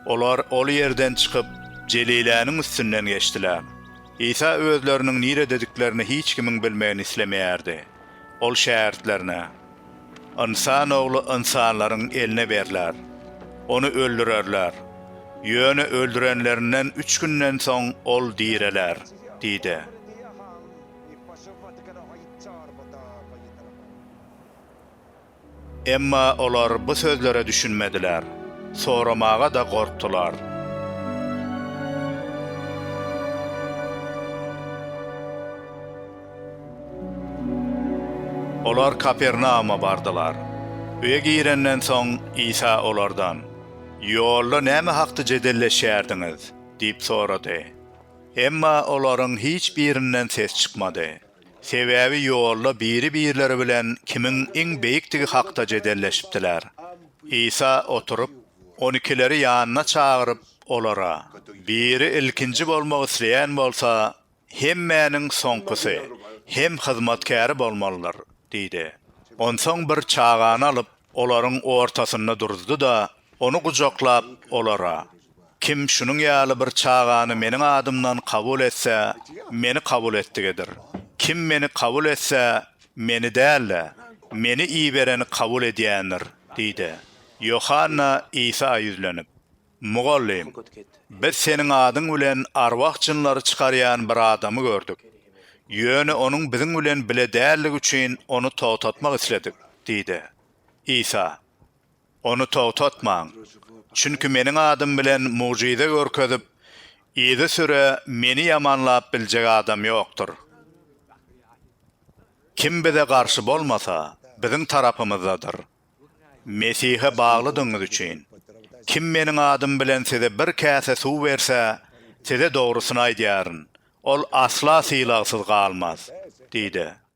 Olar ol ýerden çykyp, Jeliläniň üstünden geçdiler. Isa özleriniň niredediklerini hiç kimiň bilmegini islemeýärdi. Ol şägirtlerine, Ynsan Ogly ynsanlaryň eline berler. Ony öldürerler. Ýöne öldürenlerinden üç günden soň ol direler diýdi. Emma olar bu sözlere düşünmediler, soramaga-da gorkdular. Olar Kapernauma bardylar. Öýe girenden soň, Isa olardan, Ýolda näme hakda jedelleşýärdiňiz? diýip sorady. Emma olaryň hiç birinden ses çykmady. Sebäbi ýolda biri-birleri bilen kimiň iň beýikdigi hakda jedelleşipdiler. Isa oturyp, on ikileri ýanyna çagyryp, olara, Biri ilkinji bolmak isleýän bolsa, hemmäniň soňkusy hem hyzmatkäri bolmalydyr diýdi. Onsoň bir çagany alyp, olaryň ortasynda duruzdy-da, ony gujaklap, olara, Kim şunuň ýaly bir çagany Meniň adymdan kabul etse, Meni kabul etdigidir. Kim Meni kabul etse, Meni däl-de, Meni ibereni kabul edýändir diýdi. Ýohanna Isa ýüzlenip, Mugallym, biz Seniň adyň bilen arwah jynlary çykarýan bir adamy gördük. Ýöne onuň biziň bilen bile däldigi üçin ony togtatmak isledik diýdi. Isa. Ony togtatmaň. Çünki Meniň adym bilen mugjyza görkezip, yzysüre Meni ýamanlap biljek adam ýokdur. Kim Bize garşy bolmasa, Biziň tarapymyzdadyr. Mesihe baglydygyňyz üçin, kim Meniň adym bilen size bir käse suw berse, size dogrusyny aýdýaryn, ol asla sylagsyz galmaz diýdi.